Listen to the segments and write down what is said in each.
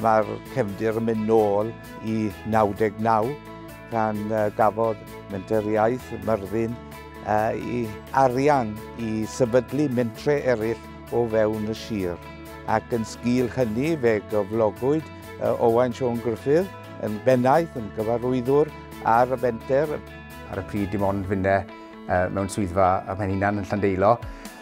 Mae'r cefndir yn mynd nôl i 99 pan gafodd Menter Iaith Myrddin i arian i sefydlu mentre eraill o fewn y sir ac yn sgil hynny fe gyflogwyd Owain Siôn Gruffydd yn bennaeth, yn gyfarwyddwr Ar y fenter, ar y pryd dim ond finne mewn swyddfa a mae'n hunan yn Llandeilo,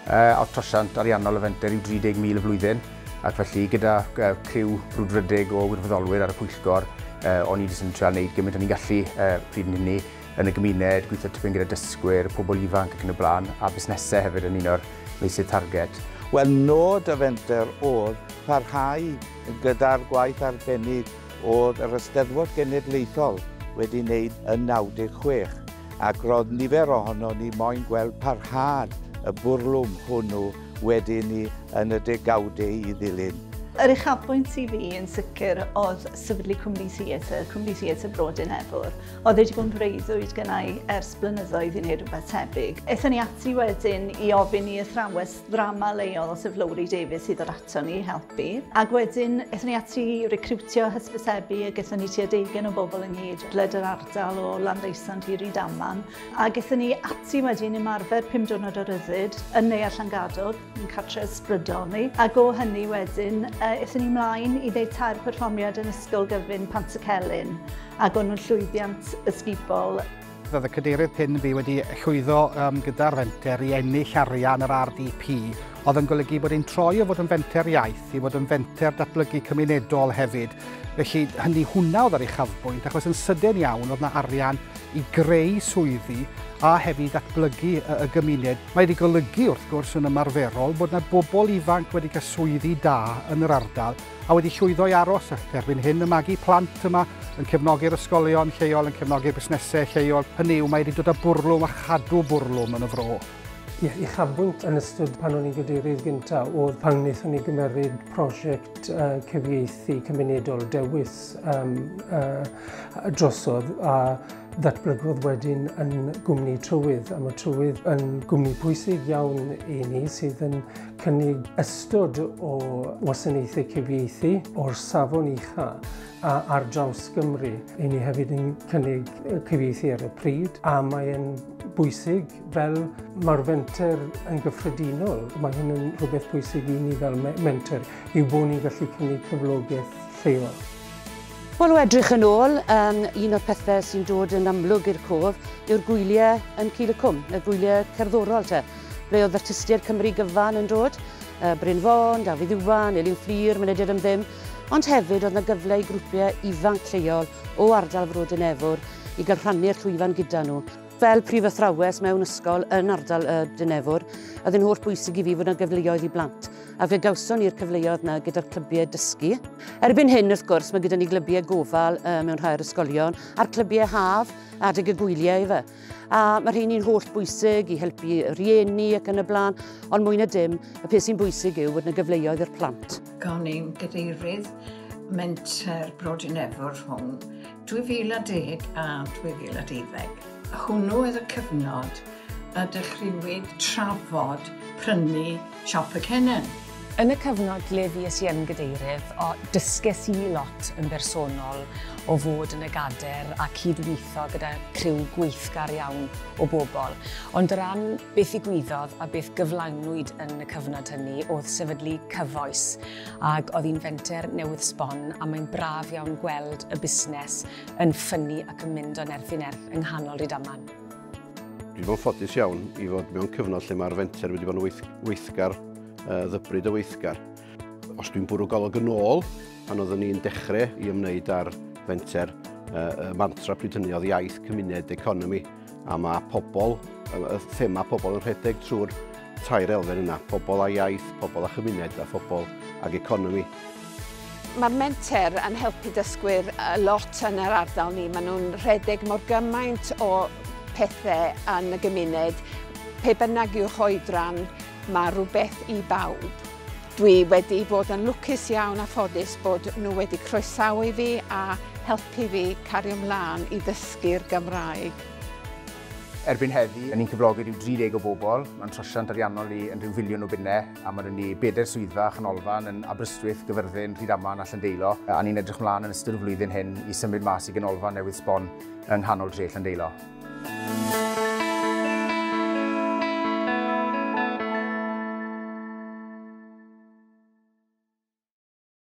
uh, o'r trosiant ariannol y fenter yw 30,000 y flwyddyn, ac felly gyda uh, criw brwdfrydig o wirfoddolwyr ar y pwyllgor, uh, o'n i wedi sy'n treol wneud gymaint o'n i'n gallu uh, pryd yn hynny yn y gymuned, gweithio tipyn gyda dysgwyr, pobl ifanc ac yn y blaen, a busnesau hefyd yn un o'r meysydd target. Wel, nod y fenter oedd parhau gyda'r gwaith arbennig Oedd yr Eisteddfod Genedlaethol wedi wneud yn 96, ac roedd nifer ohonon ni moyn gweld parhad y bwrlwm hwnnw wedyn ni yn y degawdau i ddilyn. Yr uchafbwynt i fi yn sicr oedd sefydlu Cwmni Theatr, Cwmni Theatr Bro Dinefwr. Oedd e 'di bod yn freuddwyd gynna i ers blynyddoedd i wneud rhywbeth tebyg. Aethon ni ati wedyn i ofyn i athrawes ddrama leol, sef Lowri Davies, i ddod So ni helpu. Ac wedyn, ethon ni ati recriwtio hysbysebu ac ethon ni tua deugen o bobl yn nghyd bled yr ardal o Landdeusant i Rydaman. Ac ethon ni ati wedyn ymarfer pum diwrnod o ryddid yn Neuadd Llangadog, yn cartre ysbrydol ni. Ac o hynny wedyn, uh, ethon ni mlaen i ddeud tair perfformiad yn Ysgol Gyfun Pant y Celyn. Ac o'n nhw'n llwyddiant ysgubol. Roedd y Cadeirydd Pin fi wedi llwyddo um, gyda'r fenter i ennill arian yr RDP, oedd yn golygu bod e'n troi o fod yn fenter iaith i fod yn fenter datblygu cymunedol hefyd. Felly hynny hwnna oedd yr uchafbwynt, achos yn sydyn iawn oedd yna arian i greu swyddi a hefyd datblygu y, y gymuned. Mae wedi golygu wrth gwrs yn ymarferol bod yna bobl ifanc wedi cael swyddi da yn yr ardal a wedi llwyddo i aros ac erbyn hyn yn magu plant yma, yn cefnogi'r ysgolion lleol, yn cefnogi'r busnesau lleol, hynny yw, mae wedi dod â bwrlwm a chadw bwrlwm yn y fro. Ie, uchafbwynt yn ystod pan o'n i'n gadeirydd gyntaf oedd pan wnaethon ni gymeryd prosiect uh, cyfieithu cymunedol dewis um, uh, drosodd a ddatblygodd wedyn yn gwmni trywydd. A mae trywydd yn gwmni pwysig iawn i ni sydd yn cynnig ystod o wasanaethau cyfieithu o'r safon ucha a ar draws Gymru. I ni hefyd yn cynnig cyfieithu ar y pryd a mae'n bwysig fel mae'r fenter yn gyffredinol. Mae hyn yn rhywbeth bwysig i ni fel menter yw bod ni'n gallu cynnig cyflogaeth lleol. Wel, o edrych yn ôl, um, un o'r pethau sy'n dod yn amlwg i'r cof yw'r gwyliau yn Cil y Cwm, y gwyliau cerddorol te. Ble oedd artistiaid Cymru gyfan yn dod? Bryn Fôn, Dafydd Iwan, Elin Fflur, Mynediad am Ddim. Ond hefyd oedd 'na gyfle i grwpiau ifanc lleol o ardal Frodyr Nefwr i gael rhannu'r llwyfan gyda nhw. Fel prif athrawes mewn ysgol yn ardal y Dŷ Nefwr, oedd e'n holl bwysig i fi fod 'na gyfleoedd i blant, a fe gawson ni'r cyfleoedd 'na gyda'r clybiau dysgu. Erbyn hyn, wrth gwrs, mae gyda ni glybiau gofal mewn rhai o'r ysgolion, a'r clybiau haf, adeg y gwyliau efe. A mae rheini'n holl bwysig i helpu rhieni ac yn y blaen, ond mwy na dim, y peth sy'n bwysig yw bod yna gyfleoedd i'r plant. Gan ein gadeirydd menter Brodyn Efwr rhwng 2010 a 2012. Hwnnw oedd y cyfnod y dechreuwyd trafod prynu Siop y Cennin. Yn y cyfnod lle fues i yn Gadeirydd, dysges i lot yn bersonol o fod yn y Gadair a cyd-weithio gyda criw gweithgar iawn o bobl. Ond o ran beth ddigwyddodd a beth gyflawnwyd yn y cyfnod hynny oedd sefydlu Cyfoes ac oedd hi'n fenter newydd sbon a mae'n braf iawn gweld y busnes yn ffynnu ac yn mynd o nerth i nerth yng nghanol Rydaman. Dwi'n bod ffodus iawn i fod mewn cyfnod lle mae'r fenter wedi bod yn weith, weithgar, uh, ddybryd o weithgar. Os dwi'n bwrw golwg yn ôl, pan oeddwn ni'n dechrau i ymwneud â'r fenter, uh, mantra pryd hynny oedd iaith, cymuned, economi, a mae pobl, y thema pobl yn rhedeg trwy'r tair elfen yna, pobl a iaith, pobl a chymuned a phobl ag economi. Mae'r menter yn helpu dysgwyr lot yn yr ardal ni. Maen nhw'n rhedeg mor gymaint o pethau yn y gymuned. Pe bynnag i'w hoedran, mae rhywbeth i bawb. Dwi wedi bod yn lwcus iawn a ffodus bod nhw wedi croesawu fi a helpu fi cario mlaen i ddysgu'r Gymraeg. Erbyn heddi, ni'n cyflogi rhyw 30 o bobl, mae'n trosiant ariannol i yn rhyw filiwn o bunnau, a mae 'da ni bedair swyddfa a chanolfan yn Aberystwyth, Gyfyrddin, Rhydaman a Llandeilo, a ni'n edrych mlaen yn ystod y flwyddyn hyn i symud mas i ganolfan newydd sbon yng nghanol dre Llandeilo.